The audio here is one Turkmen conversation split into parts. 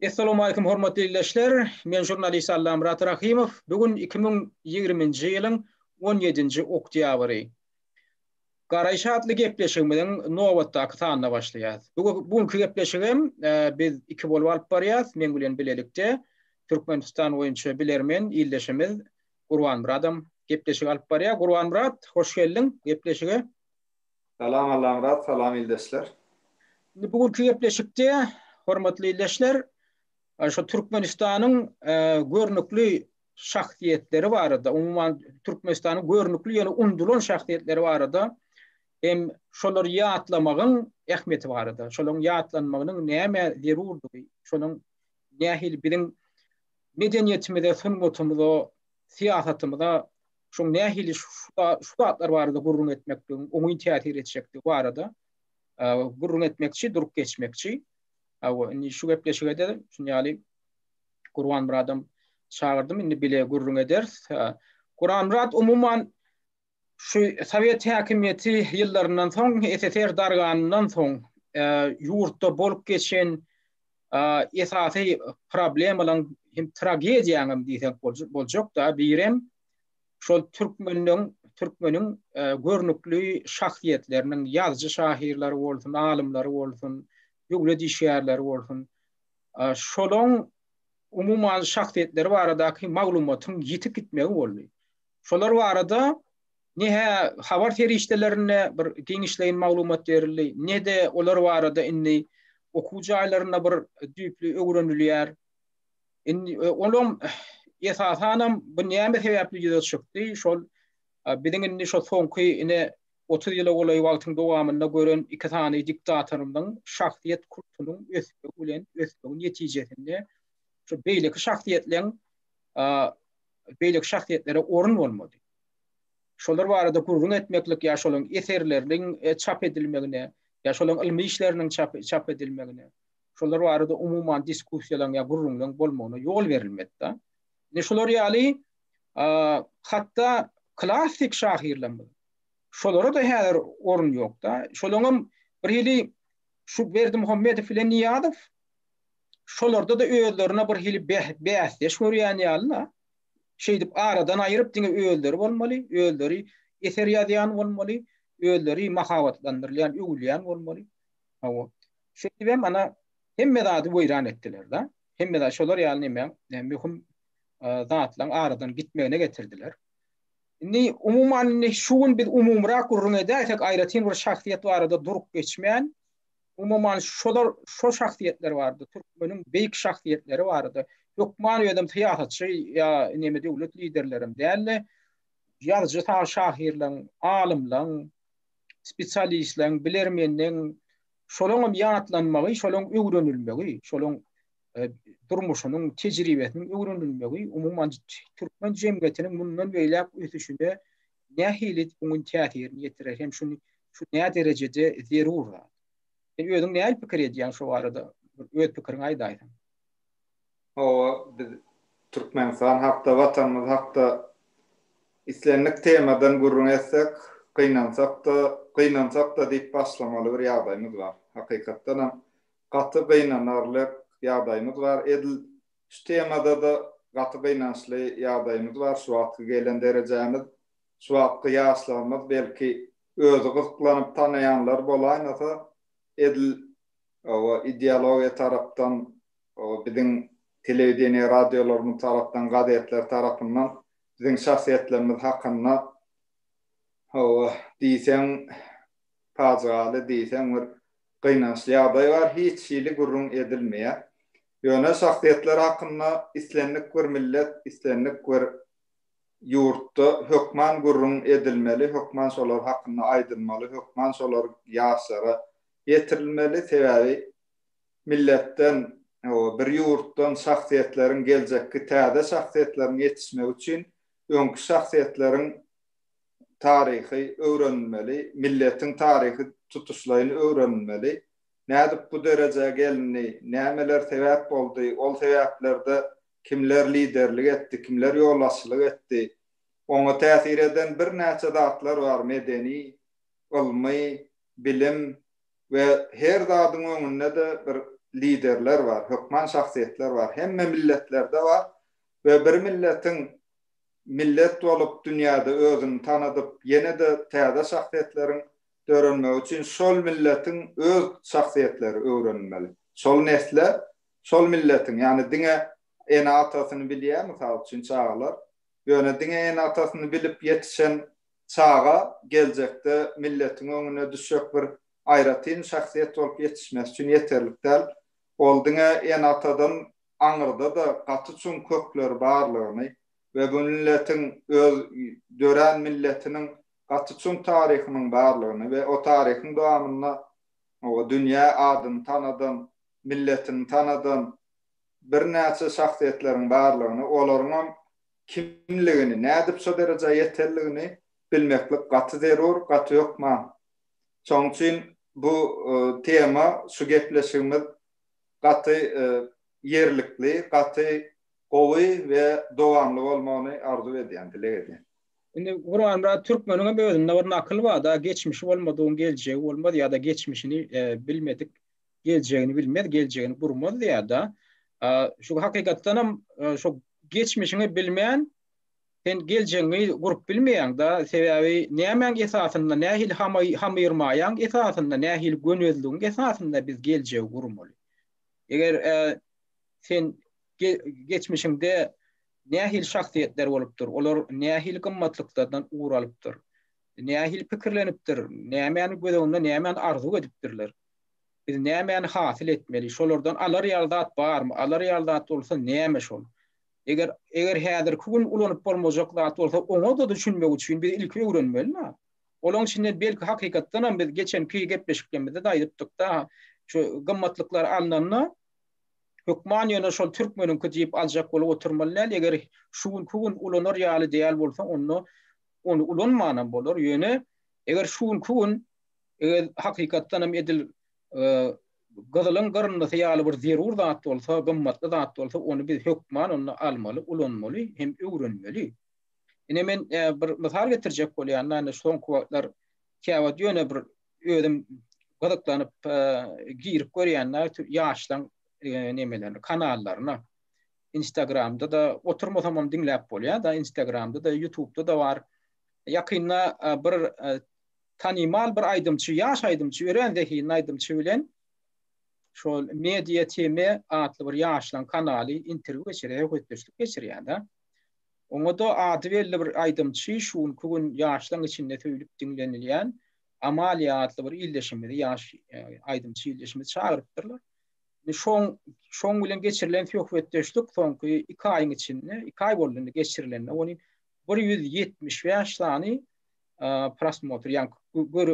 Essalawmalikim hormatly ildeşler, men žurnalist Allamyrat Rahymow, bu gün iki müň ýigriminji ýylyň on ýedinji oktýabry. Garaýyş atly gepleşigimiziň nobatdaky sanyna başlaýas. Bu bu günki gepleşigem biz iki bolup alyp barýas, men bilen bilelikde Türkmenistan boýunça bilermen ildeşimiz Gurbanmyradam gepleşik alyp barýar. Gurbanmyrat, hoş geldiň gepleşige. Salam Allamyrat, salam ildeşler. Indi bu günki gepleşikde hormatly ildeşler şu Türkmenistanyň görnükli şahsyýetleri barada, umuman Türkmenistanyň görnükli ýöne unudylan şahsyýetleri barada hem şolary ýatlamagyň ähmiýeti barada, şolaryň ýatlanmagynyň nämä zerurdygy, şonuň nähili biziň medeniýetimize, sungatymyza, syýasatymyza şoň nähili şu zatlar barada gürrüň etmekligiň oňyn täsir etjekdigi barada gürrüň etmekçi, durup geçmekçi. Hawa, indi şu gepleşige-de şuny ýaly Gurbanmyradam çagyrdym, indi bile gürrüň ederis. Gurbanmyrat umuman şu sowet häkimiýeti ýyllaryndan soň, SSR darganyndan soň ýurtda bolup geçen esasy problemalaň hem tragediýaň hem diýsek boljakda birem şol türkmeniň türkmeniň görnükli şahsyýetleriniň ýazyjy şahyrlary bolsun, alymlary bolsun, döwlet işgärleri bolsun, şolaň umuman şahsyýetleri baradaky maglumatyň ýitip gitmegi boldy. Şolar barada Ne-hä habar serişdelerinde bir giňişleýin maglumat berildi, ne-de olar barada indi okuw jaýlarynda bir düýpli öwrenilýär. Indi olam esasanam bu näme sebäpli ýüze çykdy, şol biziň indi şo soňky ine otuz ýyla golaý wagtyň dowamynda gören iki sany diktatorymyzyň şahsyýet kultunyň ösmegi bilen ösmegi netijesinde şu beýleki şahsyýetleň beýleki şahsyýetlere orun bolmady. şolar barada gürrüň etmeklik ýa şolaryň eserleriniň çap edilmegine ýa şolaryň ylmy işleriniň çap edilmegine, şolar barada umuman diskussiýalaryň ýa gürrüňleriň bolmagyna ýol berilmedi-de. Indi şular ýaly hatda klassyk şahyrlarymyz, şolara-da häzir orun ýok-da. Şolaryňam bir hili şu Berdimuhamedow bilen Nyýazow şolarda-da özlerine bir hili bäsdeş görýän ýaly-da. şeýdip aradan aýryp diňe özleri bolmaly, özleri eser ýazýan bolmaly, özleri mahabatlandyrylýan, öwülýän bolmaly. Hawa. Şeýdibem ana hemme zady weýran etdiler-de. Hemme zat şolar ýaly näme, möhüm zatlaryň aradan gitmegine getirdiler. Indi umuman şu gün biz umumyrak gürrüň edäýsek, aýratyn bir şahsyýet barada durup geçmän, Umuman, şolar şo şahsyýetler barada, türkmeniň beýik şahsyýetleri barada, hökman özem syýasatçy ýa neme döwlet liderlerem däl-de, ýazyjy şahyrlaň, alymlaň, spesialistleň, bilermenleň, şolaň hem ýatlanmagy, şolaň öwrenilmegi, şolaň durmuşynyň, tejribesiniň öwrenilmegi umuman türkmen jemgyýetiniň mundan beýläk ösüşine nähili oňyn täsirini ýetirer hem şuny şu nä derejede zerur zat? Sen özüň nähili pikir edýäň şu barada? Öz pikiriňi aýdaýsaň. Hawa, biz Türkmenistan hakda, Watanymyz hakda islendik temadan gürrüň etsek, gynansak-da, gynansak-da diýip başlamaly bir ýagdaýymyz bar. Hakykatdanam, gaty gynanarlyk ýagdaýymyz bar. Edil Şu temadada gaty gynançly ýagdaýymyz bar, şu wagtky gelen derejämiz, şu wagtky ýaşlarymyz belki özi gyzyklanyp tanaýanlar bolaýmasa, edil o ideologiýa tarapdan, o biziň telewideniýe radiolarymyz tarapdan, gazetler tarapyndan biziň şahsyýetlerimiz hakynda hawa, diýseň pajygaly, diýseň bir gynançly ýagdaý bar, hiç hili gürrüň edilmeýär. Ýöne şahsyýetler hakynda islendik bir millet, islendik bir ýurtda hökman gürrüň edilmeli, hökman şolar hakynda aýdylmaly, hökman şolar ýaşlara ýetirilmeli, sebäbi milletden, bir ýurtdan şahsyýetleriň geljekki täze şahsyýetleriň ýetişmegi üçin öňki şahsyýetleriň taryhy öwrenilmeli, milletiň taryhy tutuşlaýyn öwrenilmeli. Nädip bu derejä gelindi, nämeler sebäp boldy, ol sebäplerde kimler liderlik etdi, kimler ýolbaşçylyk etdi? Oňa täsir eden birnäçe zatlar bar, medeni, ylmy, bilim we her zadyň öňünde-de bir liderler bar, hökman şahsyýetler bar. Hemme milletlerde bar we bir milletiň millet bolup dünýäde özüni tanadyp, ýene-de täze şahsyýetleriň dörenmegi üçin şol milletiň öz şahsyýetleri öwrenilmeli. Şol nesle şol milletiň, ýagny diňe ene-atasyny bilýän, mysal üçin, çagalar, ýöne diňe ene-atasyny bilip ýetişen çaga geljekde milletiň öňüne düşjek bir aýratyn şahsyýet bolup ýetişmesi üçin ýeterlik däl. Ol diňe ene-atadan aňyrda-da gaty çuň kökleri barlygyny we bu milletiň öz dörän milletiniň gaty çuň taryhynyň barlygyny we o taryhyň dowamynda o dünýä adyny tanadan, milletini tanadan birnäçe şahsyýetleriň barlygyny, olaryňam kimligini, nädip şo derejä ýetenligini bilmeklik gaty zerur, gaty hökman. Şonuň üçin bu tema, şu gepleşigimiz gaty ýerlikli, gaty gowy we dowamly bolmagyny arzuw edýän, dileg edýän. Indi Gurbanmyrat Türkmeniňem özünde bir nakyl barda, geçmişi bolmadygyň geljegi bolmaz ýa-da geçmişini bilmedik geljegini bilmez, geljegini gurmaz diýýär-de. Şu hakykatdanam şu geçmişiňi bilmän sen geljegiňi gurup bilmeýäň-de, sebäbi nämäň esasynda, nähili hamyrmaýaň esasynda, nähili gönezligiň esasynda biz geljegi gurmaly? Eger sen geçmişiňde Nähili şahsyýetler bolupdyr, olar nähili gymmatlyklardan ugur alypdyr, nähili pikirlenipdir, nämäni göz öňünde, nämäni arzuw edipdirler, biz nämäni hasyl etmeli, şolardan alar ýaly zat barmy, alar ýaly zat bolsa näme şol? Eger, eger häzirki gün ulanyp bolmajak zat bolsa, oňa-da düşünmek üçin biz ilki öwrenmeli-dä. Olaň içinde belki hakykatdanam biz geçenki gepleşiklerimizde-de aýdypdyk-da, şu gymmatlyklar alnanda, Hökman ýöne şol türkmeniňki diýip aljak bolup oturmaly däl, eger şu günki gün ulanar ýaly däl bolsa onda ony ulanmanam bolar, ýöne eger şu günki gün eger hakykatdanam edil gyzylyň gyryndysy ýaly bir zerur zat bolsa, gymmatly zat bolsa ony biz hökman onda almaly, ulanmaly hem öwrenmeli. Ine men bir mysal getirjek bolýan-da, indi soňky wagtlar käwagt ýöne bir özüm gyzyklanyp girip görýände ýaşlaň nemelerine kanallaryna instagramda da oturmasamam diňläp bolýar da instagramda da ýutubda da bar ýakynda bir tanymal bir aýdymçy ýaş aýdymçy örän zehinli aýdymçy bilen şol media tm atly bir ýaşlaň kanaly interwýu geçirýär söhbetdeşlik geçirýär da Oňa-da ady belli bir aýdymçy şu günki gün ýaşlaň içinde söýlüp diňlenilýän Amalia atly bir ildeşimizi, ýaş aýdymçy ildeşimizi çagyrypdyrlar. Şoň şoň bilen geçirilen söhbetdeşlik soňky iki aýyň içinde, iki aý boldy indi geçirilende, ony bir ýüz ýetmiş bäş sany prosmotr, ýagny gör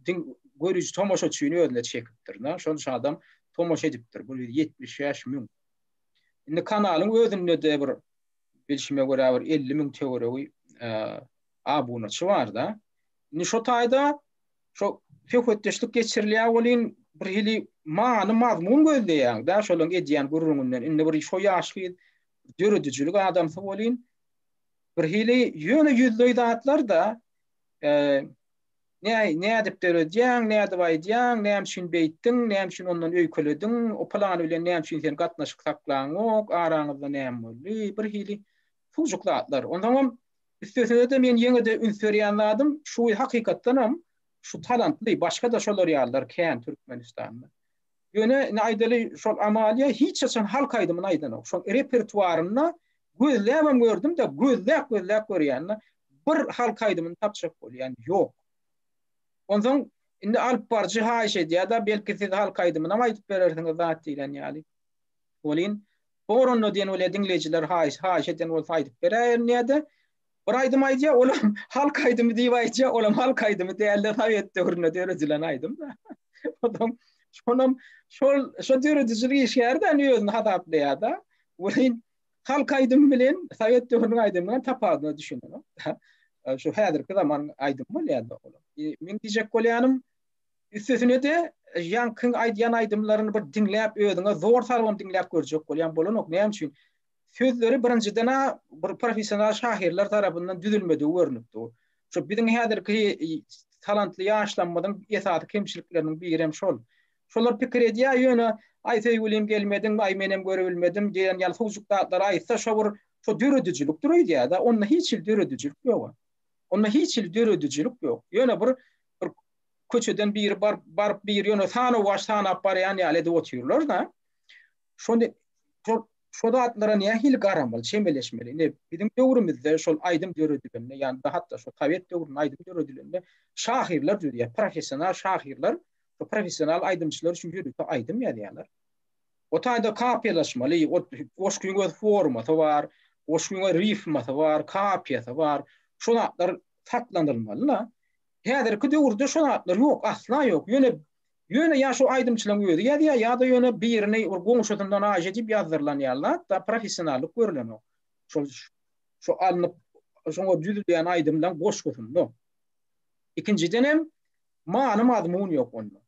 diň görüji tomaşaçyny özüne çekipdir. Şonça adam tomaşa edipdir, bir ýüz ýetmiş bäş müň. Indi kanalyň özünde-de bir bilşime görä bir 50 müň töweregi abunaçy bar-da. Indi şo taýda şo söhbetdeşlik geçirilýär welin bir hili many mazmun gözleýän da şolaryň edýän gürrüňinden indi bir şo ýaş gyz döredijilik adamsy welin bir hili ýöne ýüzleý zatlar da e, Näý, nädip döredýäň, nädip aýdýaň, näme üçin beýtdiň, näme üçin ondan öýkelediň, o pylany bilen näme üçin sen gatnaşyk saklaňok, araňyzda näme boldy, bir hili suwjuk zatlar. Onsoňam, üstesine-de men ýene-de üns berýän zadym, şu hakykatdanam şu talantly, başga-da şolar ýalylar kän Türkmenistanda. Ýöne indi aýdaly şol Amalia hiç haçan halk aýdymyny aýdanok. Şol repertuarynda gözläbem gördüm-de, gözläp gözläp görýän-de, bir halk aýdymyny tapjak bolýan ýok. Onsoň indi alyp baryjy haýyş edýär-de, belki siz halk aýdymynam aýdyp berersiňiz zat diýlen ýaly. Welin, boranda diýen welin diňleýjiler haýyş haýyş eden bolsa aýdyp beräýerin diýýär-de, Bir aýdym aýdýar, olam halk aýdymy diýip aýdýar, olam halk aýdymy dälde sowet döwründe döredilen aýdym. Olam şonam şol şo döredijilik işgärden özüni hasaplaýarda. Welin halk aýdymy bilen sowet döwrüniň aýdymynyň tapadyna düşünelim. Şu häzirki zaman aýdym bolýarda olam. Men diýjek bolýanym üstesine de ýankyň aýdýan aýdymlaryny bir diňläp özüňe zor salgyn diňläp görjek bolýan bolanok. Näme üçin? Sözleri birinjiden-ä bir professional şahyrlar tarapyndan düzülmedigi görnüp dur. Şu biziň häzirki talantly ýaşlarymyzyň esasy kemçilikleriniň biri hem şol. Şolar pikir edýär, ýöne Aý söýgülim gelmediň, Aý menem görebilmedim diýen ýaly suwjyk zatlary aýtsa şo bir şo döredijilikdir öýdýär-de, onda hiç hili döredijilik ýog-a. Onda hiç hili döredijilik ýok. Ýöne bir bir köçeden biri baryp baryp bir ýöne sanawaç sanap barýan ýaly edip otyrlar-da. Şony şol Şo zatlara nähili garamaly, çemeleşmeli? Ine, biziň döwrümizde şol aýdym döredilende, ýa-da hatda şo sowet döwründe aýdym döredilende şahyrlar düzýär, professional şahyrlar, şo professional aýdymçylar üçin ýörite aýdym ýazýarlar. O taýda kapiýalaşmaly, o goşgyň öz formasy bar, goşgyň öz rifmasy bar, kapiýasy bar. Şo zatlar saklanylmaly-la. Häzirki döwürde şo zatlar ýok, asla ýok. Ýöne Ýöne ýa şu aýdymçylaň özi ýazýa ýada ýöne birini bir goňşusyndan aýja diýip ýazdyrylan ýaly zat da professionallyk görülenok. Şol şu alnyp şoňa düzülýän aýdymlaň goşgusynda. Ikinjiden hem many mazmun ýok onda.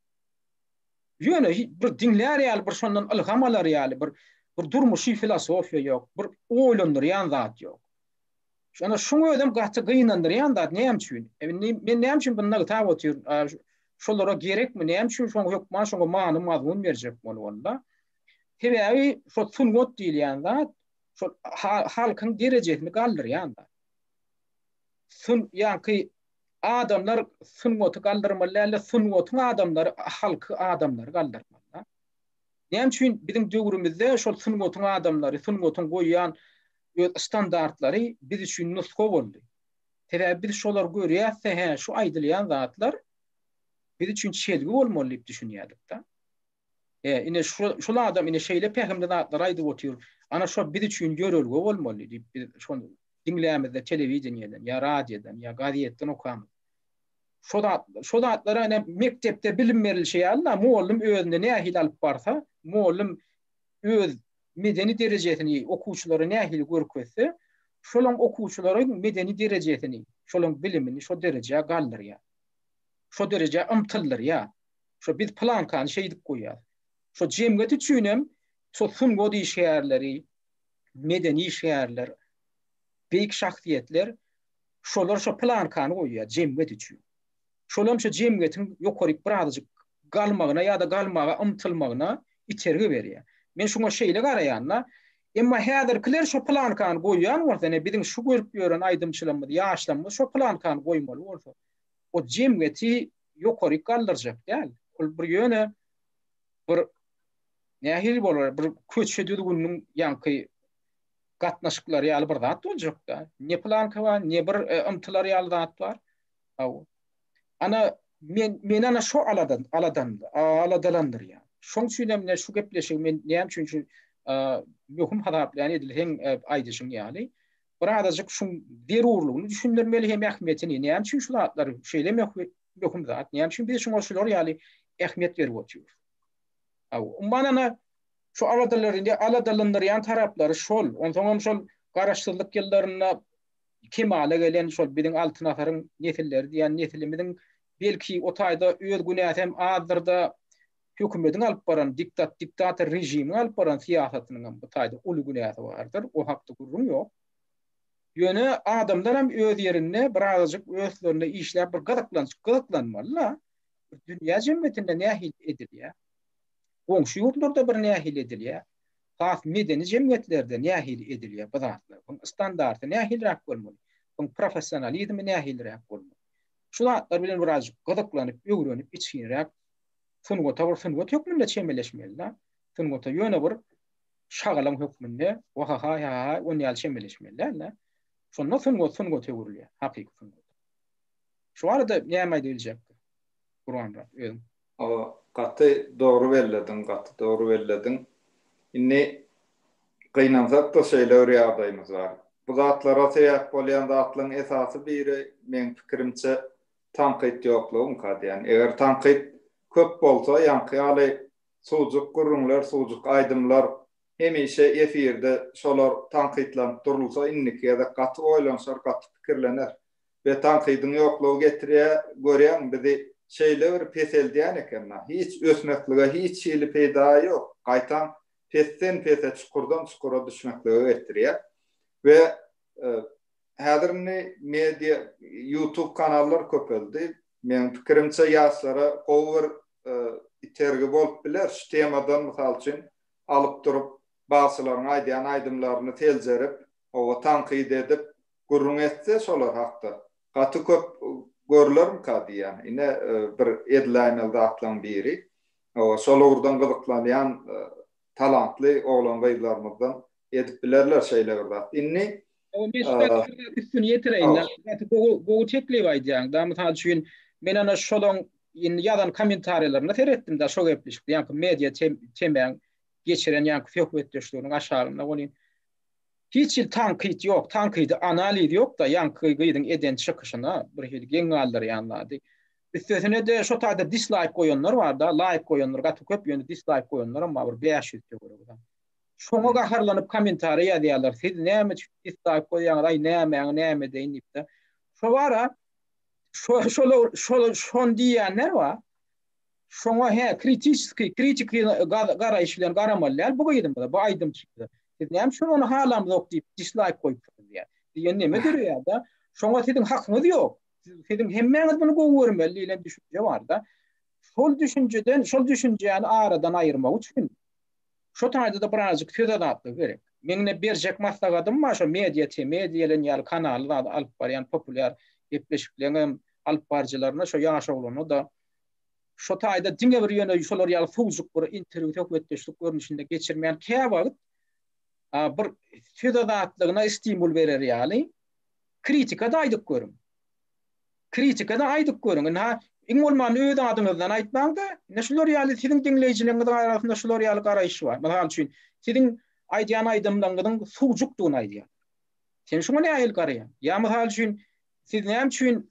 Ýöne bir diňlär ýaly bir şondan ylham alar ýaly bir bir durmuşy filosofiýa ýok, bir oýlandyrýan zat ýok. Şonda şuň özüm gaty gynandyrýan zat näme üçin? E, men näme üçin bunu nygtap otyryn? Şolara gerekmi? Näme üçin şoň hökman şoňa many mazmun berjek bolup onda? Sebäbi şo sungat diýilýän zat şo halkyň derejesini galdyrýan zat. Sun ýaňky adamlar sungaty galdyrmaly däldi, sungatyň adamlary halky adamlary galdyrmaly. Näme üçin biziň döwrümizde şol sungatyň adamlary, sungatyň goýýan öz standartlary biz üçin nusga boldy? Sebäbi biz şolary görýäs-de, hä, şu aýdylýan zatlar biz üçin çelgi bolmaly diýip düşünýärdik-de. E, ine şu şol adam ine şeýle pähimli zatlary aýdyp otyr. Ana şo biz üçin ýörelge bolmaly diýip biz şony diňlämizde telewideniýeden ýa radiodan ýa gazetden okamyz. Şo zat, şo zatlar ene mekdepde bilim berilişi ýaly-da, mugallym özüni nähili alyp barsa, mugallym öz medeni derejesini okuwçylara nähili görkezse, şolaň okuwçylaryň medeni derejesini, şolaň bilimini şo derejä galdyrýar. Şo derejä ymtyldyrýar. Şo biz plankany şeýdip goýýar. Şo jemgyýet üçin hem şo sungat işgärleri, medeni işgärler, beýik şahsyýetler Şolar şo plankany goýýar jemgyýet üçin. Şolam şo jemgyýetiň ýokaryk bir azajyk galmagyna ýa-da galmaga ymtylmagyna itergi berýär. Men şuňa şeýle garaýan-da. Emma häzirkiler şo plankany goýýan bolsa, ine, biziň şu görüp ýören aýdymçylarymyz, ýaşlarymyz şo plankany goýmaly bolsa, o jemgyýeti ýokaryk galdyrjak däl. Ol bir ýöne bir nähili bolar, bir köçe düzgüniniň ýaňky gatnaşyklary ýaly bir zat boljak-da. Ne planka bar, ne bir e, ymtylar ýaly zat bar. Hawa. Ana men men ana şu aladan aladan aladalandyrýar. Şoň üçin hem şu gepleşigi men näme üçin şu e, möhüm hasaplaýan edil hem e, aýdyşyň ýaly. Bir azajyk şu zerurlygyny düşündirmeli hem ähmiýetini. Näme üçin şu zatlar şeýle möhüm zat? Näme üçin biz şoňa şular ýaly ähmiýet berip oturýarys? Aw, umman ana Şu aladalar indi aladalandyrýan taraplary şol. Onsoň hem şol Garaşsyzlyk ýyllarynda kemala gelen şol biziň Altyn asyryň nesilleri diýen nesilimiziň belki o taýda öz günäsi hem azdyr-da, hökümetiň alyp baran diktat diktator režimiň alyp baran syýasatynyň hem bu taýda uly günäsi bardyr. O hakda gürrüň ýok. Ýöne adamlar hem öz ýerinde birazajyk öslerinde işläp bir gyzyklanç gyzyklanmaly-la. Dünýä jemgyýetinde nähili edilýär? Goňşy ýurtlarda bir nähili edilýär, has medeni jemgyýetlerde nähili edilýär bu zatlar, buň standarty nähiliräk bolmaly, buň professionalizmi nähiliräk bolmaly. Şu zatlar bilen birazjyk gyzyklanyp, öwrenip, içginräk sungata bir sungat hökmünde çemeleşmeli-de. Sungata ýöne bir şagalaň hökmünde, wahahaý, hahaý, on ýaly çemeleşmeli däl-de. Şonda sungat sungata öwrülýär, hakyky sungat. Şu barada näme aýdyp biljekdi, Gurbanmyrat, özüň? O gaty dogry bellediň gaty dogry bellediň. Indi gynansak-da şeýle bir ýagdaýymyz bar. Bu zatlara sebäp bolýan zatlaryň esasy biri meň pikirimçe tankyt ýoklugyňka diýýän. Eger tankyt köp bolsa ýaňky ýaly suwjuk gürrüňler, suwjuk aýdymlar hemişe efirde şolar tankytlanyp durulsa indiki gezek gaty oýlanşar, gaty pikirlener. Be tankydyň ýoklugy getirýär, görýäň bizi şeýle bir peseldýän eken na, hiç ösmeklige hiç hili peýda ýok, gaýtam pesden pese çukurdan çukura düşmeklige getirýär. Be häzir indi media ýutub kanallar köpeldi, meň pikirimçe ýaşlara gowy bir itergi bolup biler, şu temadan mysal üçin alyp durup bagşylaryň aýdýan aýdymlaryny seljerip oba tankyt edip gürrüň etse şolar hakda gaty köp görlermika diýýän. Ine bir edlaýmeli zatlaň biri. Hawa şol ugurdan gyzyklanýan talantly oglan-gyzlarymyzdan edip bilerler şeýle bir zat. Indi Hawa men şu zady üstüni ýetireýin. Gaty gowy gowy teklip aýdýaň da. Mysal üçin men ana şolaň indi ýazan kommentariýalaryna seretdim da şo gepleşikde ýaňky media temäň geçiren ýaňky söhbetdeşliginiň aşagynda welin Hiç hili tankyt ýok, tankydy analiz ýokda ýaňky gyzyň eden çykyşyna bir hili geň galdyrýan zady. Üstesine-de şo taýda dislaýk goýanlar barda, laýk goýanlar gaty köp ýöne dislaýk goýanlaram bar bir bäş ýüz töweregidem. Şoňa gaharlanyp kommentariýa ýazýarlar siz näme üçin dislaýk goýýaňyz aý nämäňi näme edeýin diýipde. Şo bara şo şolar şol şony diýýänler bar. Şoňa hä, kritiçeskiý, kritik garaýyş bilen garamaly däl bu gyzymyza, bu aýdymçymyza. Siz näme üçin ony halamzok diýip dislaýk goýupsyňyz diýýär. Diýen näme döreýär-de, şoňa siziň hakyňyz ýok. Siziň hemmäňiz muny gowy görmeli diýlen düşünje bar-da. Şol düşünjeden, şol düşünjäni aradan aýyrmak üçin şu taýda-da birazajyk söz azatlygy gerek. Meň ine berjek maslahatym bar şo Media TM diýlen ýaly kanaly zady alyp barýan populýar gepleşikleriň hem alyp baryjylaryna şo ýaş oglana-da şo taýda diňe bir ýöne şolar ýaly sowjuk bir interwýu söhbetdeşlik görnüşinde geçirmän käwagt bir söz azatlygyna stimul berer ýaly kritika-da aýdyp görüň. Kritika-da aýdyp görüň. Indi ha iň bolmanda öz adyňyzdan aýtmaň-da, indi şular ýaly siziň diňleýjileriňiziň arasynda şular ýaly garaýyş bar. Mysal üçin, siziň aýdýan aýdymlaryňyzyň sowjukdygyny aýdýar. Sen şuňa nähili garaýaň? Ýa mysal üçin, siz näme üçin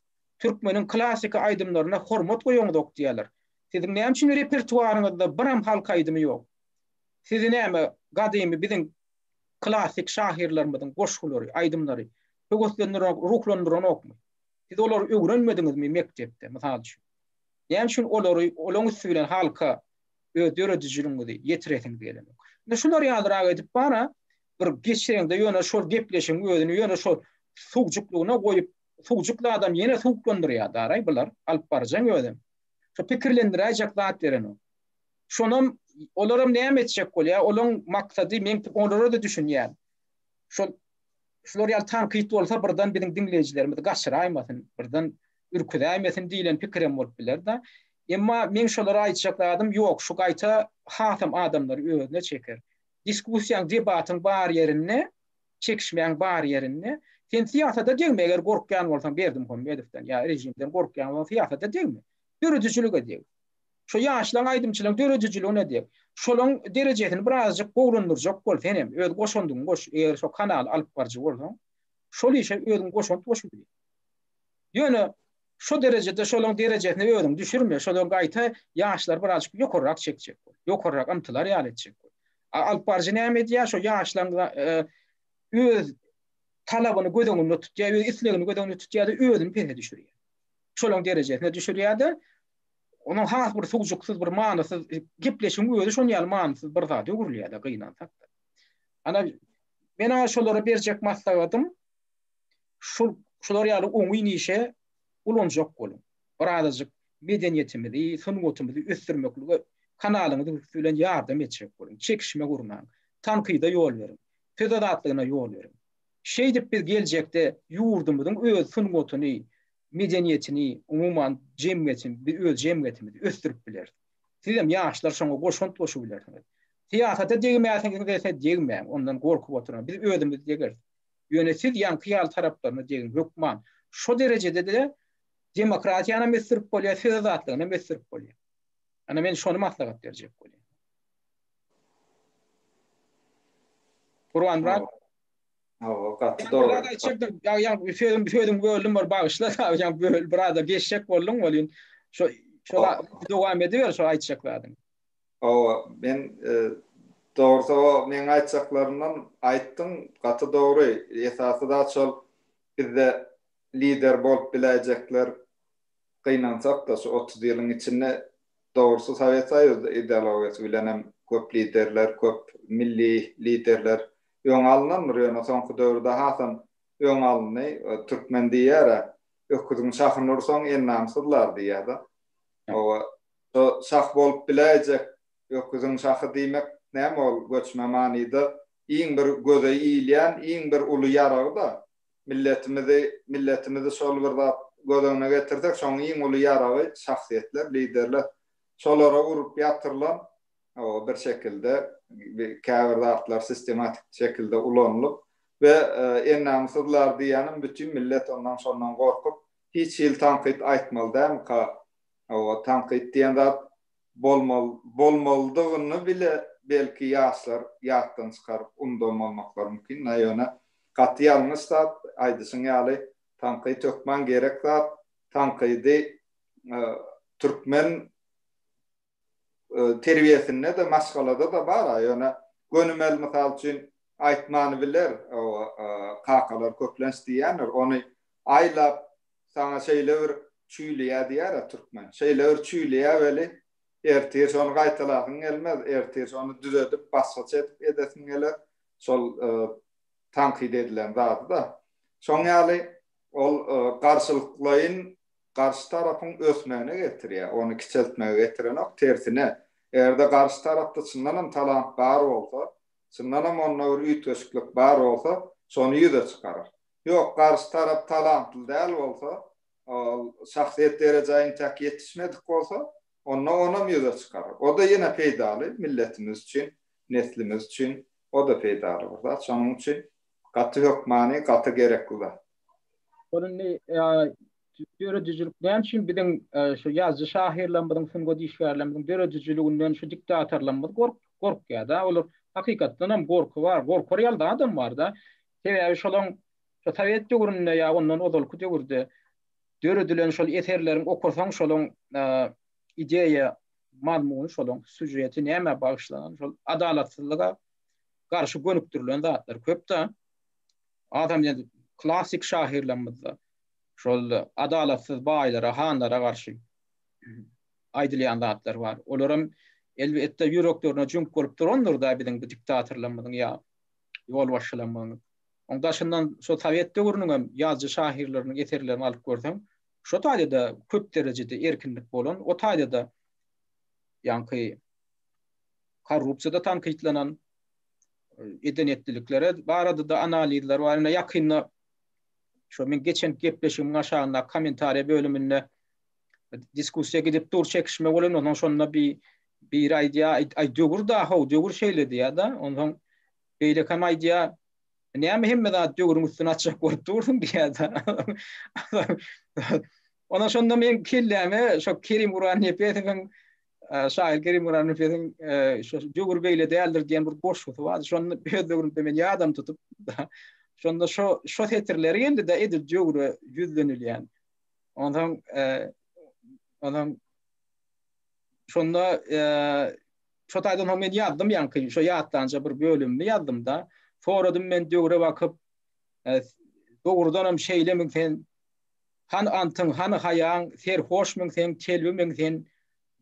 Türkmeniň klassyky aýdymlaryna hormat goýaňzok diýýärler. Siziň näme üçin repertuaryňyzda biram halk aýdymy ýok? Sizi näme gadymy biziň klassyk şahyrlarymyzyň goşgulary, aýdymlary höweslendiren, ruhlandyranokmy? Siz olary öwrenmediňizmi mekdepde, mysal üçin? Näme üçin olary, olaň üsti bilen halka öz döredijiligiňizi ýetiresiňiz gelenok? Indi şular ýalyrak edip bara bir geçiriňde ýöne şol gepleşigiň özüni ýöne şol sugjuklygyna goýup Suwjukly adam ýene suwuklandyrýar daraý bular, alyp barjaň özem. Şu pikirlendiräýjek zat berenok. Şonam olaram näme etjek bolýar, olaň maksady men olara-da düşünýän. Şol şular ýaly tankyt bolsa birden biziň diňleýjilerimizi gaçyraýmasyn, birden ürküzäýmesin diýlen pikirem bolup biler-de. Emma men şolara aýtjak zadym ýok, şu gaýta hasam adamlary özüne çeker. Diskussiýaň, debatyň bar ýerinde Çekişmäň bar ýerinde sen syýasata degme, eger gorkýan bolsaň Berdimuhamedowdan ýa režimden gorkýan bolsaň syýasata degme. Döredijilige deg. Şo ýaşlaň aýdymçylaň döredijiligine deg. Şolaň derejesini birazjyk gowulandyrjak bol senem, öz goşandyňy goş, eger şo kanaly alyp barjy bolsaň, şol işe özüň goşant goşup bil. Ýöne Şo derejede şolaň derejesine özüňi düşürme, şolar gaýta ýaşlary birazjyk ýokarrak çekjek bol, ýokarrak ymtylar ýaly etjek bol. A alypbaryjy näme edýär, şo ýaşlaň öz talabyny göz öňünde tutýar, öz islegini göz öňünde tutýar-da özüni pese düşürýär. Şolaň derejesine düşürýär-de, onuň has bir sugjuksyz, bir manysyz gepleşigiň özi şonuň ýaly manysyz bir zada öwrülýär-de gynansak-da. Ana, men-ä şolara berjek maslahatym, Şul, şular ýaly oňyn işe ulanjak boluň. Bir azajyk medeniýetimizi, sungatymyzy ösdürmeklige kanalyňyz üsti bilen ýardam etjek boluň. Çekişme gurnaň. Tankyda ýol beriň. Söz azatlygyna ýol beriň. Şeýdip biz geljekde ýurdumyzyň öz sungatyny, medeniýetini, umuman jemgyýeti, bi öz jemgyýetimizi ösdürip bileris. Sizem ýaşlar şoňa goşant goşup bilersiňiz. Syýasata degmäsiňiz dese degmäň, ondan gorkup oturma. Biz özümiz degeris. Ýöne siz ýaňky ýaly taraplaryna degiň, hökman. Şo derejede-de demokratiýanam ösdürip bolýar, söz azatlygynam ösdürip bolýar. Ana men şony maslahat berjek bolýan. Gurbanmyrat. Hawa, gaty dogry. Ýa-da çykdyň, ýa-da sözüm, sözüm böldüm, bir bagyşla, ýa-da böl, biraz da geçjek bolduň welin, şo, şola dowam ediber, şo aýtjak zadyňy. Hawa, men dogrusy o meň aýtjaklarymdan aýtdyň, gaty dogry. Esasy zat şol bizde lider bolup biläýjekler gynansak-da şu otuz ýylyň içinde dogrusy Sowet Soýuzy ideologiýasy bilenem köp liderler, köp milli liderler öňe alynandyr, ýöne soňky döwürde hasam öňe alyndy. Türkmen diýýär-ä, Öküziň şahyny ursaň, ennany syzlar diýýär-de. Hawa, Şo şah bolup biläýjek öküziň şahy diýmek näme ol göçme manyda iň bir göze ilýän iň bir uly ýaragy-da. Milletimizi milletimizi şol bir zat göz öňüne getirsek şoň iň uly ýaragy şahsyýetler liderler. Şolara urup ýatyrylan o bir şekilde käbir zatlar sistematik şekilde ulanylyp we ennamysyzlar diýýänim bütin millet ondan şondan gorkup hiç hili tankyt aýtmaly dälmika Hawa, tankyt diýen zat bolmaly, bolmalydygyny bile belki ýaşlar ýatdan çykaryp undanmanmaklary mümkin, na ýöne gaty ýalňyş zat, aýdyşyň ýaly, tankyt hökman gerek zat, tankydy türkmen terbiýesinde-de, maşgalada-da bar-a, ýöne gönümel mysal üçin aýtmany biler, kakalar köplenç diýýändir, ony aýlap, Saňa şeýle bir çüýleýä diýer-ä türkmen. Şeýle bir çüýleýä weli, ertir ony gaýtalasyň gelmez, ertir ony düzedip, başgaça edip edesiň geler, şol tankyt edilen zady-da. Şoň ýaly, ol garşylyklaýyn garşy tarapyň ösmegine getirýär, ony kiçeltmege getirenok, tersine, eger-de garşy tarapda çyndan hem talant bar bolsa, çyndan hem onda bir üýtgeşiklik bar bolsa, şony ýüze çykarar. Ýok, garşy tarap talantly däl bolsa, ol şahsyýet derejä intäk ýetişmedik bolsa, onda onam ýüze çykar. O-da ýene peýdaly milletimiz üçin, neslimiz üçin o-da peýdaly bir zat. Şonuň üçin gaty hökmany, gaty gerekli zat. Ol indi döredijilik näme üçin biziň şu ýazyjy-şahyrlarymyzyň, sungat işgärlerimiziň döredijiliginden şu diktatorlarymyz gorkýar-da. Olar hakykatdanam gorky bar, gorkar ýaly zadam bar-da. Sebäbi şolaň şo sowet döwründe ýa ondan ozalky döwürde döredilen şol eserleriň okasaň şolaň ideýa mazmuny şolaň sýužeti nämä bagyşlanan şol adalatsyzlyga garşy gönükdirilen zatlar köpda. Adam ýa klassyk şahyrlarymyzda şol adalatsyz baýlara hanlara garşy aýdylýan zatlar bar. Olaram elbetde ýüreklerine jüňk bolup durandyrda biziň bu diktatorlarymyzyň ýa ýolbaşçylaryň Oň daşyndan şo sowet döwrüniň hem ýazyjy şahyrlarynyň eserlerini alyp görseň, şo taýda-da köp derejede erkinlik bolan, o taýda-da ýaňky korrupsiýada tankytlanan eden-etdilikleri barada-da analizler bar. Ýakynda şo men geçen gepleşigimiň aşagyndaky kommentariýa bölüminde diskussiýa gidip dur, çekişme bolan, ondan şonda bir bir aýdýa, aý döwür da ho, döwür şeýle diýýä-de, ondan beýle hem aýdýa, näme hemme zat döwrüň üstüne açyk bolup dursun diýýä-de. Ondan şonda men kelläme şo Kerim Guran Nepesowyň şaýyr Kerim Guran Nepesowyň şo döwür beýle däldir diýen bir goşgusy bar. Şonda öz döwrümde men ýadam tutup, şonda şo şo setirleri geldi-de, edil döwre ýüzlenilýän. Ondan ondan şonda şu taýdan hem men ýazdym ýaňky şu ýatlanja bir bölümini ýazdym da. Soradym men döwre bakyp dogrudan hem şeýle men sen han antyň han haýaň serhoş men sen kelbi men sen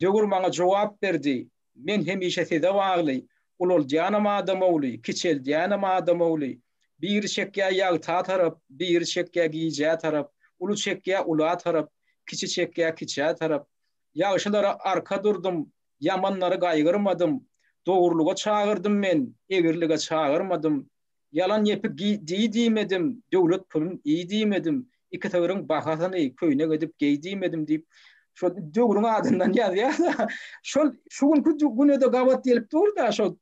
döwür maňa jogap berdi. Men hemişe size bagly, Ulaldýanam adamowly, kiçeldýänem adamowly. Biri çekýä ýagta tarap, biri çekýä gijä tarap, uly çekýä ula tarap, kiçi çekýä kiçä tarap. Ýagşylara arka durdum, ýamanlary gaýgyrmadym. Dogrulyga çagyrdym men, egrilige çagyrmadym. Ýalan ýepi giý diý diýmedim, döwlet pulun iý diýmedim, iki sygyryň bahasyny köýnek edip geý diýmedim diýip, şol döwrüň adyndan ýazýar-da, şol şu günki güne-de gabat gelip dur-da, şol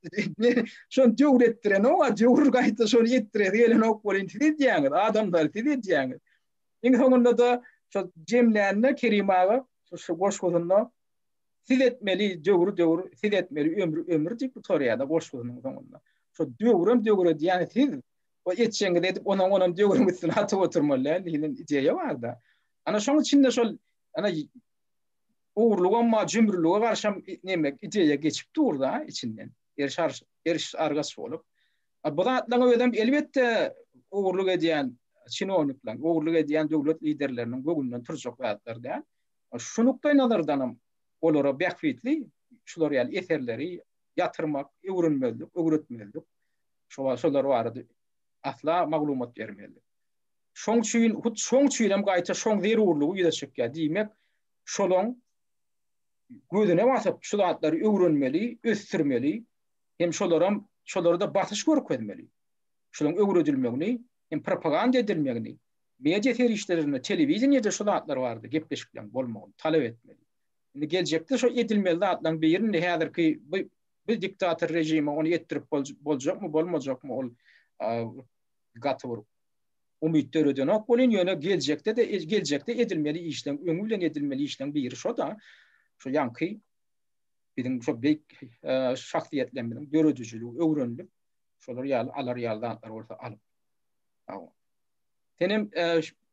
şony döwür etdirenok, a döwür gaýta şony etdiresi gelenok welin, siz edýäňiz, adamlar, siz edýäňiz. Iň soňunda-da şol jemlände Kerim aga şu goşgusynda Siz etmeli döwri döwür, siz etmeli ömri ömür diýip gutarýar-da goşgusynyň soňunda. Şo döwrem döwre diýýän siz we etjegiňizi edip onuň onam döwrüň üstüne atyp oturmaly däl diýlen ideýa bar-da. Ana şoň üçin de şol ana ogurlygam bar, jümrülige garşam neme ideýa geçip dur-da içinden. Eriş eriş argaç bolup. A bu zatlaryň özem elbetde ogurlyk edýän çinownikler, ogurlyk edýän döwlet liderleriniň göwünden turjak zatlar däl. Şu nukdaýnazardanam olara bähbitli şular ýaly eserleri ýatyrmak, öwrenmezlik, öwretmezlik, şolar barada asla maglumat bermezlik. Şoň üçin, hut şoň üçinem gaýta şoň zerurlygy ýüze çykýar. Diýmek, şolaň gözüne basyp, şu zatlary öwrenmeli, ösdürmeli hem şolaram şolarda basyş görkezmeli. Şolaň öwredilmegini hem propaganda edilmegini Media serişdelerinde, telewideniýede şu zatlar barada gepleşikleriň bolmagyny talap etmeli. Indi geljekde şo edilmeli zatlaryň birini häzirki bu bu diktator režime ony etdirip boljakmy, bolmajakmy ol gaty bir umyt döredenok welin ýöne geljekde-de geljekde edilmeli işleriň öňi bilen edilmeli işleriň biri şo-da şu ýaňky biziň şo beýik şahsyýetlerimiziň döredijiligi öwrenilip şolar ýaly alar ýaly zatlar bolsa alyp Senem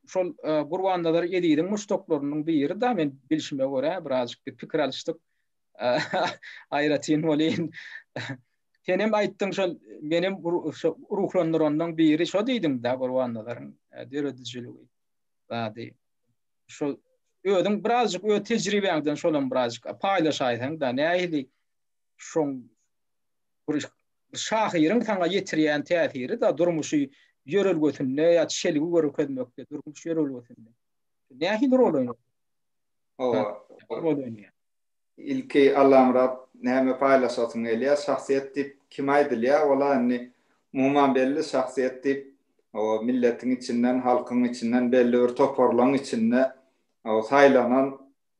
şol Gurbannazar Eziziň muşdaklarynyň biri-da men bilşime görä, birazjyk bir pikir alyşdyk. Aýratyn welin senem aýtdyň şol menem ruhlandyranlaryň biri şo diýdiň-de Gurbannazaryň döredijiligi zady. Şol özüň birazjyk öz tejribäňden şolam birazjyk paýlaşaýsaň-da nähili şoň bir Şahyryň saňa ýetirýän täsiri-de durmuşy ýörelgesinde ýa çelgi görkezmekde, durmuş ýörelgesinde. Nähili rol oýnar? Hawa. Rol oýnaýar. Ilki Allamyrat näme paýlaşasyň gelýär? Şahsyýet diýip kim aýdylýar? Ol-a indi umuman belli şahsyýet diýip, hawa, milletiň içinden, halkyň içinden belli bir toparlaryň içinde, hawa, saýlanan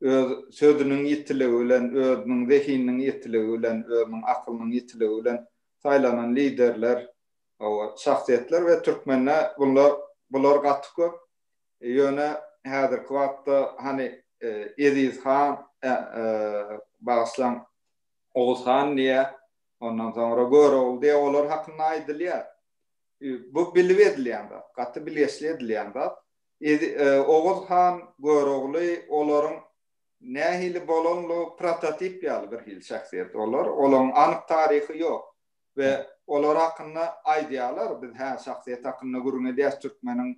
öz sözüniň ýitiligi bilen, özüniň zehininiň ýitiligi bilen, özüniň akylynyň ýitiligi bilen saýlanan liderler, hawa, şahsyýetler we türkmende bunlar, bular gaty köp. Ýöne häzirki wagtda, hany, Eziz han, bagyşlaň, Oguz han diýýä, ondan soňra Görogly diýýä, olar hakynda aýdylýar. Bu bilip edilýän zat, gaty bilgeşli edilýän zat. Oguz han Görogly olaryň nähili bolanlygy prototip ýaly birhili şahsyýet olar. Olaryň anyk taryhy ýok we olar hakynda aýdýarlar, biz hä şahsyýet hakynda gürrüň edýäs, türkmeniň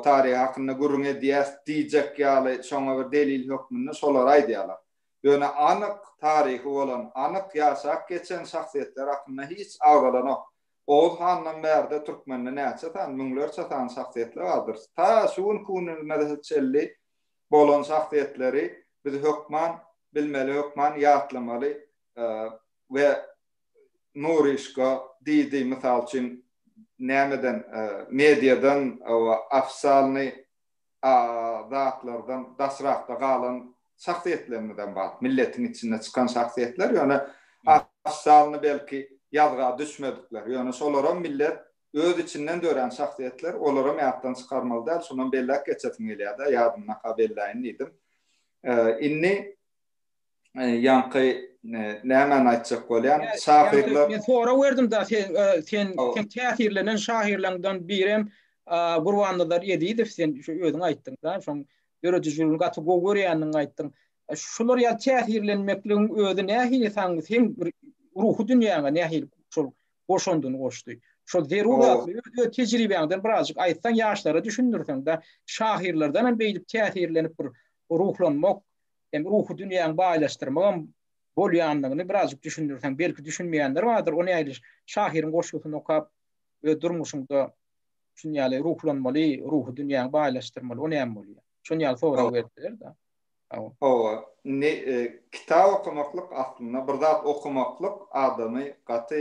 taryhy hakynda gürrüň edýäs diýjek ýaly şoňa bir delil hökmünde şolary aýdýarlar. Ýöne anyk taryhy bolan, anyk ýaşap geçen şahsyýetler hakynda hiç agzalanok. Oguz handan bärde türkmende näçe sany, müňlerçe sany şahsyýetler bardyr. Ta şu günki günümize çenli bolan şahsyýetleri biz hökman bilmeli, hökman ýatlamaly we Nuryşka, Didi, mysal üçin, nämeden, mediadan, ofisalnyý, zatlardan daşrakda galan şahsyýetlerimizem bar. Milletiň içinde çykan şahsyýetler, ýöne has sanyny belki ýazga düşmedikler. Ýöne şolaram millet öz içinden dörän şahsyýetler, olaram ýatdan çykarmaly däl. Şonam belläp geçesim gelýär-de, ýadymdan ha belläýin diýdim. Indi. ýaňky nämäni aýtjak bolýan şahyrlar Men sorag berdim da sen sen sen täsirlenen şahyrlaňdan birem Gurbannazar Ezizow sen şu özüň aýtdyň da şoň döredijiligini gaty gowy görýändigiňi aýtdyň. Şular ýaly täsirlenmekligiň özi nähili saň seň bir ruhy dünýäňe nähili şol goşandyny goşdy. Şol zeruratly öz tejribäňden birazjyk aýtsaň ýaşlara düşündirseň-de şahyrlardanam beýdip täsirlenip bir ruhlanmak Sen ruhy dünýäňi baýlaşdyrmagam bolýandygyny birazjyk düşündirseň, belki düşünmeýänler bardyr, ony ýaly şahyryň goşgusyny okap, öz durmuşyňda şuny ýaly ruhlanmaly, ruhy dünýäňi baýlaşdyrmaly, o näme bolýar? Şuny ýaly sorag berseler-de. Hawa. Hawa. Indi kitap okamaklyk aslynda bir zat okamaklyk adamy gaty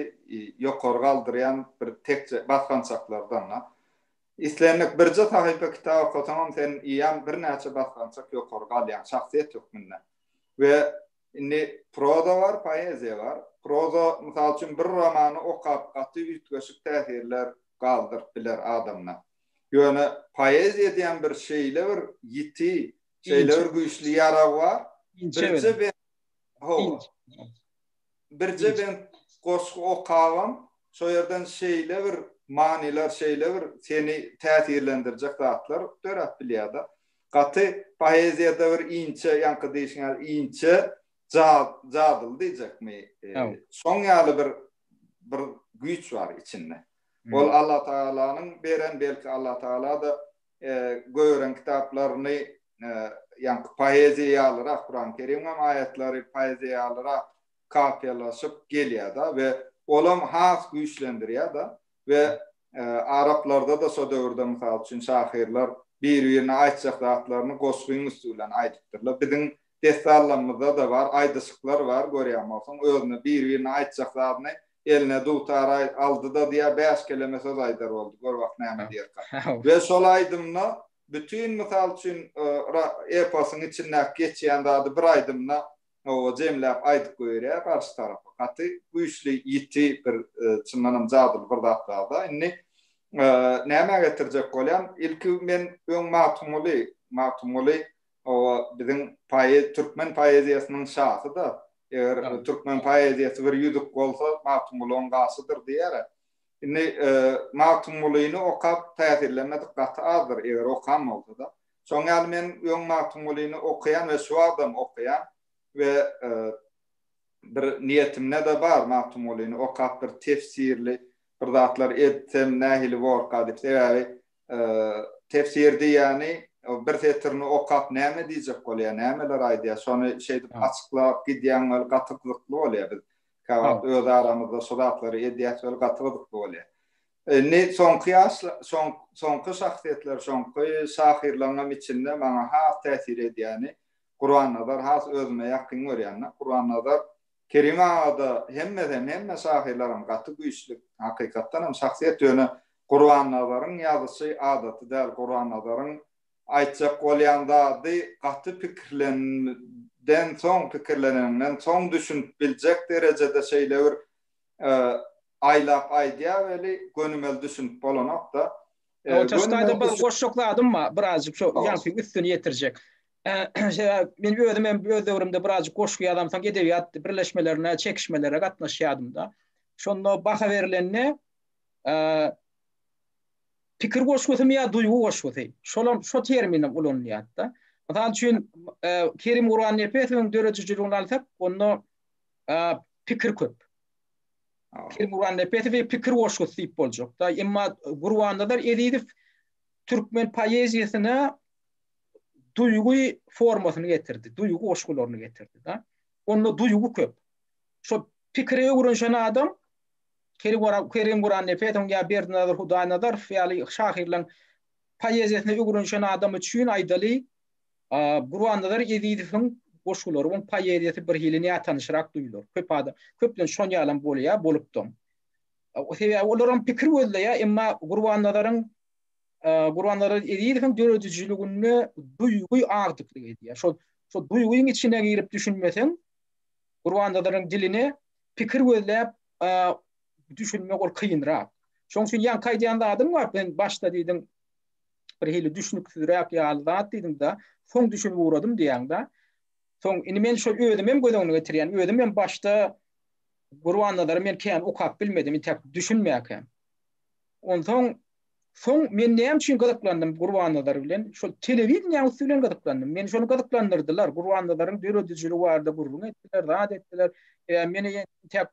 ýokary galdyrýan bir tekje basgançaklardan-da. Islendik birje sahypa kitap okasaňam sen eýýäm birnäçe basgançak ýokary galýaň şahsyýet hökmünde. We indi proza bar, poeziýa bar. Proza mysal üçin bir romany okap gaty üýtgeşik täsirler galdyryp biler adamda. Ýöne poeziýa diýen bir şeýle bir ýiti, şeýle bir güýçli ýarag bar. Inçe bilen. Birje bent, hawa. Inç. birje bent goşgy okabam, şo ýerden şeýle bir manylar, şeýle bir seni täsirlendirjek zatlar döräp bilýär-de. Gaty poeziýada bir inçe, ýaňky diýşiň ýaly inçe jadyly diýjekmi, şoň ýaly bir bir güýç bar içinde. Ol Allatagalanyň beren, belki Allatagala-da göýeren kitaplaryny, ýaňky poeziýa ýalyrak, Kurany Kerim hem aýatlary poeziýa ýalyrak kapiýalaşyp gelýär-de we olam has güýçlendirýär-de we araplarda-da şo döwürde, mysal üçin, şahyrlar bir-birine aýtjak zatlaryny goşgyň üsti bilen aýdypdyrlar. Biziň Dessanlarymyzda-da bar, aýdyşyklar bar, görýän bolsaň, özüne biri-birine aýtjak zadyny eline dutar, Aý, aldy-da diýer, bäş keleme söz aýdar boldy, gör wah näme diýerkä. We şol aýdymda bütin, mysal üçin, eposyň içindäki geçýän zady bir aýdymda oba jemläp aýdyp goýberýär garşy tarapa. Gaty güýçli, ýiti bir, çyndan hem jadyly bir zat bar-da. Indi nämä getirjek bolýan, ilki men öň Magtymguly, Magtymguly Hawa, biziň poez türkmen poeziýasynyň şasy-da. Eger türkmen poeziýasy bir ýüzük bolsa, Magtymguly oň gaşydyr diýer-ä. Indi Magtymgulyny okap täsirlenmedik gaty azdyr, eger okan bolsa-da. Şoň ýaly men öň Magtymgulyny okaýan we şu wagtam okaýan we bir niýetimde-de bar Magtymgulyny okap bir tefsirli bir zatlar etsem nähili borka diýip. Sebäbi tefsir diýýäni bir setirini okap näme diýjek bolýar, nämeler aýdýar, şony şeýdip açyklap gidýäň weli gaty gyzykly bolýar. Biz käwagt öz aramyzda şu zatlary edýäs weli gaty gyzykly bolýar. Indi soňky ýaşlar, soňky şahsyýetler, soňky şahyrlaryňam içinde maňa has täsir edýäni Gurannazar has özüme ýakyn görýän-de. Gurannazar Kerim agada hemmeden hemme şahyrlaram gaty güýçli hakykatdanam şahsyýet ýöne Gurbannazaryň ýazyşy adaty däl Gurbannazaryň aýtjak bolýan zady gaty pikirlenden soň pikirleneniňden soň düşünip biljek derejede şeýle bir aýlap aýdýa weli gönümel düşünip bolanokda Ee, Otur göni staýda bir goşjak zadym bar, birazjyk şu Tamam. ýanky üstüni ýetirjek. Ee, şeýle, Men özüm hem öz döwrümde birazjyk goşgy ýazam, soň edebiýat birleşmelerine, çekişmelere gatnaşýardym-da. Şonda baha berilende ee, pikir goşgusymy ýa duýgy goşgusy, şolam şo terminim ulanylýar-da. Mysal üçin, ee, Kerim Gurbannepesowyň döredijiligini alsak, onda ee, pikir köp. Pir Gurbannepesowy pikir goşgusy diýip boljakda, emma Gurbannazar Ezizow türkmen poeziýasyna duýgy formasyny getirdi, duýgy goşgularyny getirdi da. Onda duýgy köp. Şo pikire öwrenişen adam Kerim Gurannepesowyň ýa Berdinazar Hudaýnazarow ýaly şahyrlaryň poeziýasyna öwrenişen adam üçin aýdaly Gurbannazar Ezizowyň goşgulary we poeziýasy birhili nätanyşrak duýular. Köp adam, köplenç şon ýalam bolýar, bolupdam. Sebäbi olar hem pikir gözleýär, emma Gurbannazaryň Gurbannazar Ezizowyň döredijiliginde duýgy agdyklyk edýär. Şol şol duýgyň içine girip düşünmeseň, Gurbannazaryň diline pikir gözläp düşünmek ol kynrak. Şonuň üçin ýaňky aýdýan zadyň bar, sen başda diýdiň, bir hili düşnüksizräk ýaly zat diýdiň-de, soň düşünip ugradym diýýäň-de. Soň indi men şol özümi hem göz öňüne getirýän. Özüm hem başda Gurbannazary men kän okap bilmedim, intäk düşünmäkä. Onsoň soň men näme üçin gyzyklandym Gurbannazar bilen? Şol telewideniýäň üsti bilen gyzyklandym. Meni şony gyzyklandyrdylar. Gurbannazaryň döredijiligi barada gürrüň etdiler, zat etdiler. E, men intäk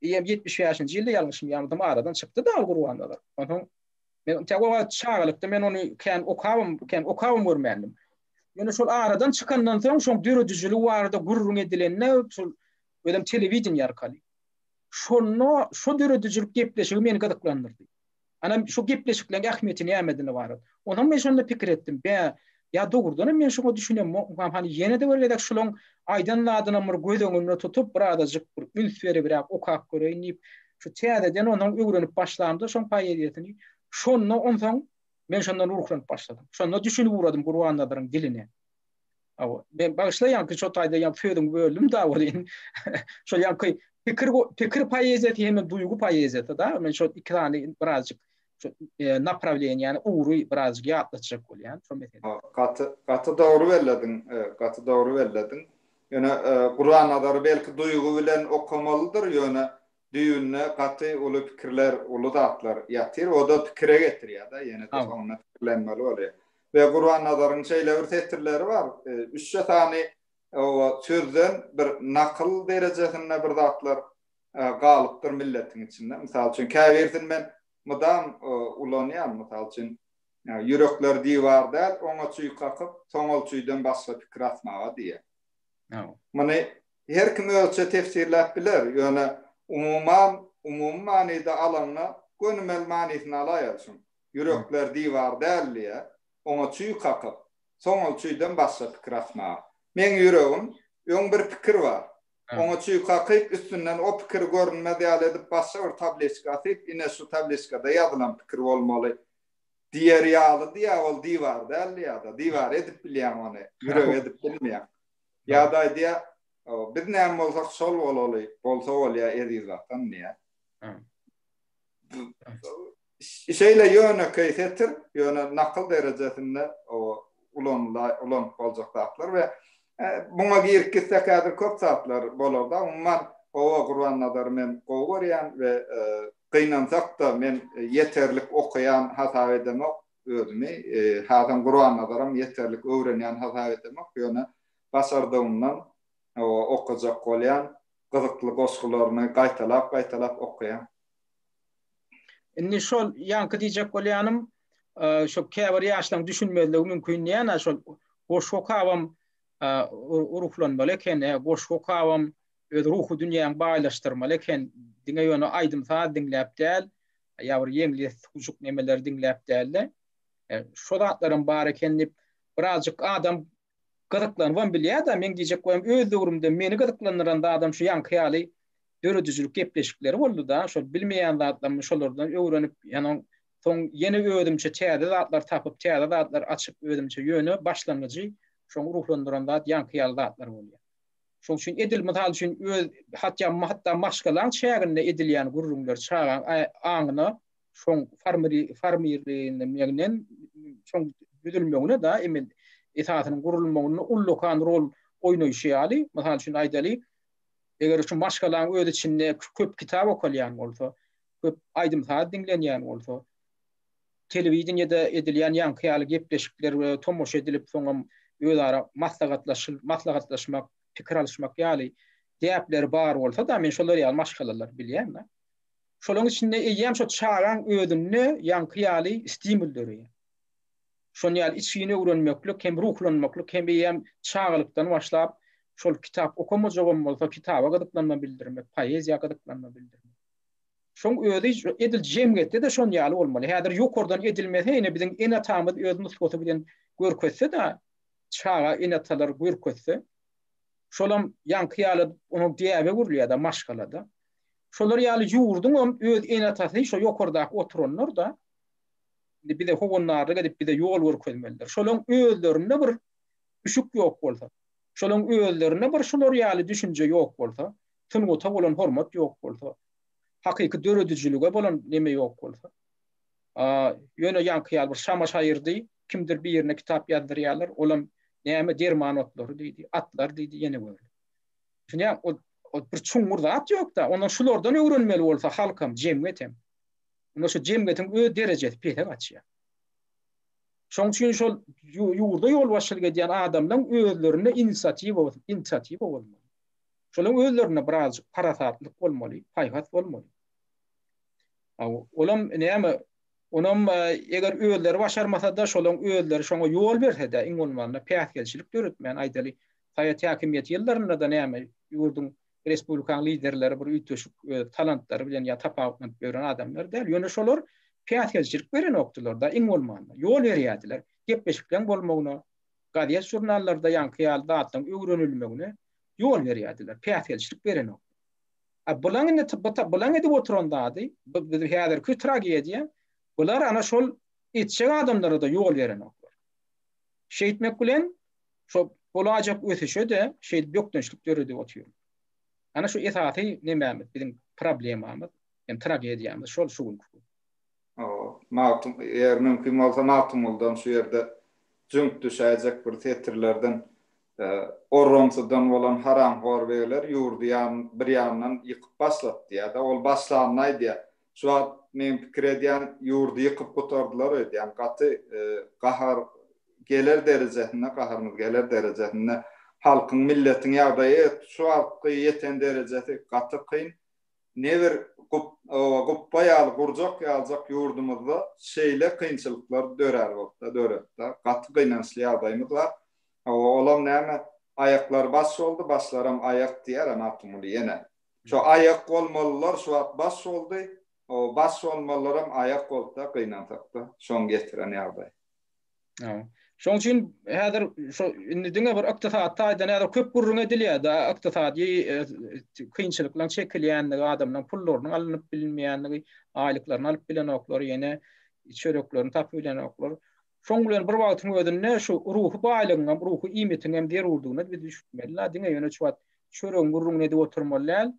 ýetmiş bäşinji ýylda ýalňyşmýarmydym, aradan çykdy-da Gurbannazar. Onsoň Men tä o wagt çagalykda men ony kän okabam, kän okabam görmändim. Ýöne şol aradan çykandan soň şoň döredijiligi barada gürrüň edilende şol özem telewideniýe arkaly. Şonda şo döredijilik gepleşigi meni gyzyklandyrdy. Ana şu gepleşikleriň ähmiýeti nämedigine barada. Onam men şonda pikir etdim. Bä, Ýa dogrudanam men şoňa düşünemokmykam, hany ýene-de bir gezek şulaň aýdan zadynam bir göz öňünde tutup, birazajyk bir üns beribräk okap göreýin diýip, şu täzeden onsoň öwrenip başlamda şoň poeziýasyny, şonda onsoň men şondan ruhlanyp başladym. Şonda düşünip ugradym Gurbannazaryň diline. Hawa, men bagyşla ýaňky şo taýda ýaňky sözüňi böldüm-da welin, şol ýaňky pikir pikir poeziýasy hem-de duýgy poeziýasy-da, men şol iki sany birazjyk şu e, naprawleniýäni ugry birazjyk ýatlatjak bolýan şo mesele. Gaty gaty dogry bellediň, e, gaty dogry bellediň. Ýöne e, Guran nazary belki duýgy bilen okamalydyr, ýöne düýbünde gaty uly pikirler, uly zatlar ýatyr. O da pikire getirýär-de, ýene de soňuna pikirlenmeli bolýar. Ve Guran nazaryň şeýle bir setirleri bar. E, üçje sany o sözden bir nakyl derejesinde bir zatlar galypdyr milletiň içinde. Mysal üçin, käbirisini men mydam ulanýan, mysal üçin, Ýürekler diwar däl, oňa çüý kakyp, soň ol çüýden başga pikir atmaga diýýär. Muny her kim özüçe tefsirläp biler, ýöne umuman, umumy manyda alanda, gönümel manysyny alaýaly şuň. Ýürekler diwar däl diýýär, oňa çüý kakyp, soň ol çüýden başga pikir atmaga. Meň ýüregim, öň bir pikir bar, Oňa çüý kakyp, üstünden o pikir görünmez ýaly edip başga bir tabliçka asyp, ine şu tabliçkada ýazylan pikir bolmaly diýer ýalydy-ýa, ol diwar däldi ýa-da, diwar edip bilýäň ony, ýürek edip bilmeýäň. Ýa-da aýdýar, Biz näme bolsak şol bolaly, bolsa bolýa eziz Watan diýýär. Şeýle ýönekeý setir, ýöne nakyl derejesinde ulanylar, ulanyp boljak zatlar we muňa girip gitsek häzir köp zatlar bolarda, umuman Owo Gurbannazary men gowy görýän we gynansakda men ýeterlik okaýan hasap edemok özümi, hasam Gurbannazaram ýeterlik öwrenýän hasap edemok, ýöne başardygymdan okajak bolýan, gyzykly goşgularyny gaýtalap-gaýtalap okaýan. Indi şol ýaňky diýjek bolýanym, şu käbir ýaşlaryň düşünmezligi mümkin diýýän şol goşgy okabam ruhlanmaly eken, goşgy okabam öz ruhy dünýäňi baýlaşdyrmaly eken, diňe ýöne aýdym-saz diňläp däl, ýa bir ýeňli suwjuk nemeleri diňläp däl-de, şo zatlaram bar eken diýip, birazjyk adam gyzyklanybam bilýär-de, meň diýjek goýum, öz döwrümde meni gyzyklandyran zadam şu ýaňky ýaly döredijilik gepleşikleri boldy-da, şol bilmeýän zatlarymy şolardan öwrenip, ýana soň ýene özümçe täze zatlar tapyp, täze zatlar açyp özümçe ýöne başlangyjy şoňa ruhlandyran zat ýaňky ýaly zatlar bolýar. Şoň üçin edil, mysal üçin, öz hatýa hatda maşgalaň çäginde edilýän gürrüňler çagaň aňyna şoň farmiri farmirligine megnen şoň düzülmegine da emin esasynyň gurulmagynda ullakan rol oýnaýşy ýaly, mysal üçin aýdaly, eger şu maşgalaň öz içinde köp kitap okalýan bolsa, köp aýdym-saz diňlenýän bolsa, telewideniýede edilýän ýaňky ýaly gepleşikler we tomaşa edilip, soňam özara maslahatlaşyl maslahatlaşmak, pikir alyşmak ýaly däpleri bar bolsa-da, men şolar ýaly maşgalalar bilýän-de. Şolaryň içinde eýýäm şo çagaň özünde ýaňky ýaly stimul döreýär. Şonuň ýaly içgin öwrenmeklik hem ruhlanmaklyk hem eýýäm çagalykdan başlap şol kitap okamajagam bolsa kitaba gyzyklanma bildirmek, poeziýa gyzyklanma bildirmek. Şoň özi edil jemgyýetde-de şon ýaly bolmaly. Häzir ýokardan edilmese ine biziň ene-atamyz öz nusgasy bilen görkezse-de çaga ene-atalar görkezse şolam ýaňky ýaly onuň däbe öwrülýär-de maşgala-da. Şolar ýaly ýurduň hem öz ene-atasy şo ýokardaky oturanlar-da. Indi bize howandarlyk edip, bize ýol görkezmelidir. Şolaryň özlerinde bir üşük ýok bolsa, şolaryň özlerinde bir şular ýaly düşünje ýok bolsa, sungata bolan hormat ýok bolsa, hakyky döredijilige bolan neme ýok bolsa. A, ýöne ýaňky ýaly bir şama-şaýyrdy, kimdir birine kitap ýazdyrýarlar, olam näme derman otlary diýdi, atlar diýdi, ýene görle. Düşünýäňmi? Ol ol bir çuňňur zat ýok-da. Onda şulardan öwrenmeli bolsa halkam, jemgyýetem. Onda şu jemgyýetiň öz derejesi pese gaçýar. Şoň üçin şol ýurda ýolbaşçylyk edýän adamlaryň özlerinde inisiatiwa, inisiatiwa bolmaly. Şolaryň özlerinde birazjyk parasatlyk bolmaly, paýhas bolmaly. Aw, olam näme? Onam e, eger özleri başarmasa-da, şolaryň özleri şoňa ýol berse-de, iň bolmanda päsgelçilik döretmän aýdaly, Sowet häkimiýeti ýyllarynda-da näme, ýurduň, respublikaň liderleri bir üýtgeşik öz talantlary bilen ýa tapawutlanyp ýören adamlar däl. Ýöne şolar päsgelçilik berenokdylar-da, iň bolmanda. Ýol berýärdiler. Gepleşikleň bolmagyna, gazet-žurnallarda ýaňky ýaly zatlaryň öwrenilmegine ýol berýärdiler, päsgelçilik berenok. A bulaň indi bulaň edip oturan zady, bu biziň häzirki tragediýa, bular ana şol etjek adamlara-da ýol berenoklar. Şeýtmek bilen, Şo bolajak ösüşe-de şeýdip bökdençlik döredip otyr. Ana şu esasy nemämiz, biziň problemamyz, ýani tragediýamyz şol şu günki. Magtym, eger mümkin bolsa Magtymguldan şu ýerde jüňk düşäýjek bir setirlerden Orrumsydan bolan haramhor begler ýurdy ýan, bir ýandan ýykyp başlapdy ýa-da ol başlanyny aýdýar. Şu wagt men pikir edýän ýurdy ýykyp gutardylar öýdýän gaty gahar geler derejesinde gaharymyz geler derejesinde halkyň milletiň ýagdaýy şu wagtky ýeten derejesi gaty kyn ne bir oba gupba ýaly gurjak ýaljak ýurdumyzda şeýle kynçylyklar dörär bolsa döretse gaty gynançly ýagdaýymyz bar olam näme aýaklar baş boldy başlaram aýak diýýär Magtymguly ýene Şo aýak bolmalylar şu wagt baş boldy, o baş bolmalylaram aýak bolupda gynansakda şoň getiren ýagdaý. Hawa. Şoň üçin häzir şu indi diňe bir ykdysady taýdan häzir köp gürrüň edilýärda ykdysady kynçylyklaryň çekilýändigi, adamlaryň pullarynyň alnyp bilinmeýändigi, aýlyklaryny alyp bilenoklary ýene çöreklerini tapyp bilenoklar. Şoň bilen bir wagtyň özünde şu ruhy baýlygyň hem, ruhy iýmitiň hem zerurdygyna biz düşünmeli. Ýa diňe ýöne şu wagt çöregiň gürrüňini edip oturmaly däl.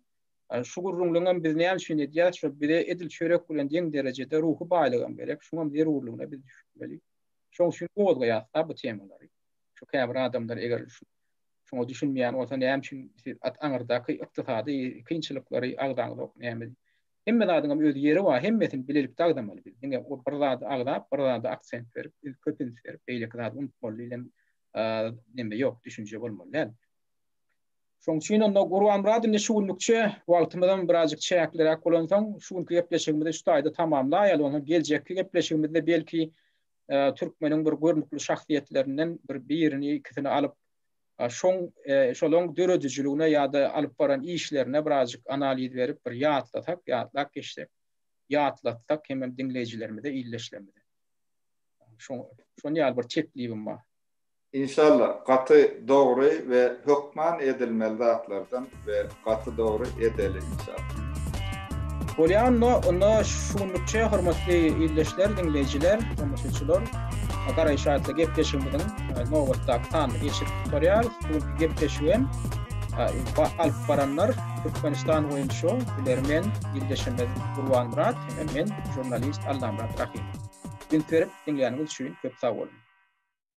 Şu gürrüňleň hem biz näme üçin edýäs, şo bize edil çörek bilen deň derejede ruhy baýlyk hem gerek. Şuňam zerurlygyna biz düşünmeli. Şoň üçin gozgaýasda bu temalary. Şu käbir adamlar eger şu şuňa düşünmeýän bolsa näme üçin siz at aňyrdaky ykdysady kynçylyklary agzaňyzok näme Hemme zadyňam öz ýeri bar, hemmesini bilelikde agzamaly biz. Diňe o bir zady agzap, bir zada aksent berip, biz köp üns berip, beýleki zady unutmaly diýlen neme ýok, düşünje bolmaly däl. Şoň üçin onda Gurbanmyrat indi şu günlükçe wagtymyzam birazjyk çäkliräk bolansoň, şu günki gepleşigimizi şu taýda tamamlaýaly, ondan soň geljekki gepleşigimizde belki türkmeniň bir görnükli şahsyýetlerinden bir birini, ikisini alyp, Şoň şolaň döredijiligine ýa-da alyp baran işlerine birazjyk analiz berip bir ýatlasak, ýatlap geçsek, ýatlatsak hemem diňleýjilerimize, ildeşlerimize. Şoň şon ýaly bir teklibim bar. Inşallah, gaty dogry we hökman edilmeli zatlardan. we gaty dogry edeli inşallah. Bolýanda onda şu günlükçe hormatly ildeşler, diňleýjiler, tomaşaçylar, Garay Şaýatly gepleşigimiziň e, nobatdaky sanyny geçip gutarýarys. Bu gepleşigi hem alyp baranlar Türkmenistan boýunça bilermen ildeşimiz Gurbanmyrat hem men jurnalist Allamyrat Rahim. Gün berip diňläniniz üçin köp sag boluň.